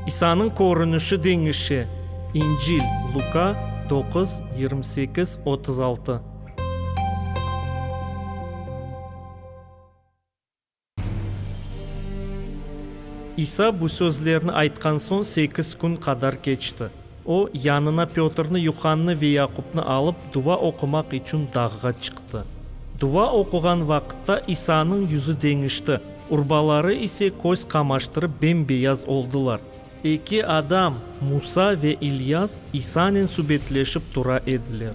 İsanıñ körünişi deñişe. İncil, Luka, doquz, yirmi sekiz, otuz altı. İsa bu sözlerni aytqan soñ sekiz kün qadar keçti. O, yanına Pötrni, Yuhannı ve Yaqupnı alıp, duva oqumaq içün dağğa çıqtı. Duva oquğan vaqıtta İsanıñ yüzü deñişti, urbaları ise köz qamaştırıp bem-beyaz oldılar. Eki adam, Musa ve İlyas, İsanen subetleşip tura ediler.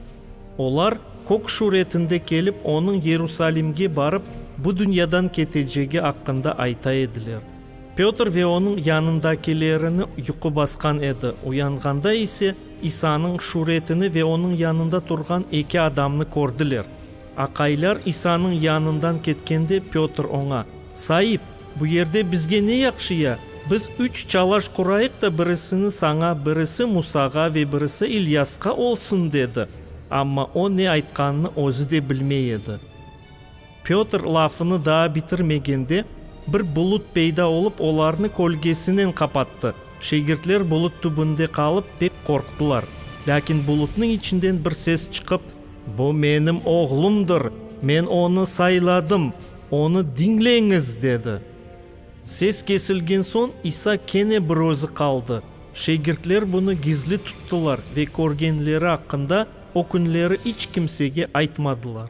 Olar, kök şuretinde kelip, onıñ Yerusalimge barıp, bu dünyadan ketecegi aqqında ayta ediler. Pötr ve onıñ yanındakilerini yuqu basqan edi, uyanğanda ise, İsanıñ şuretini ve onıñ yanında turğan eki adamnı kördiler. Aqaylar İsanıñ yanından ketkende, Pötr oña, Saip, bu yerde bizge ne yahşı ya? Biz üç çalaş qurayıq da birisini saña, birisi Musağa ve birisi İlyasqa olsun, dedi. Amma o ne aytqanını özü de bilmey edi. Pötr lafını daa bitirmegende, bir bulut peyda olıp, olarnı kölgesinen qapattı. Şegirtler bulut tübünde qalıp, pek qorqtılar. Lâkin bulutnıñ içinden bir ses çıqıp. Bu menim oğlumdır, men onı sayladım, onı diñleñiz! dedi. Ses kesilgen soñ, İsa kene bir özü qaldı. Şegirtler bunı gizli tuttılar ve körgenleri aqqında o künleri iç kimsege aytmadılar.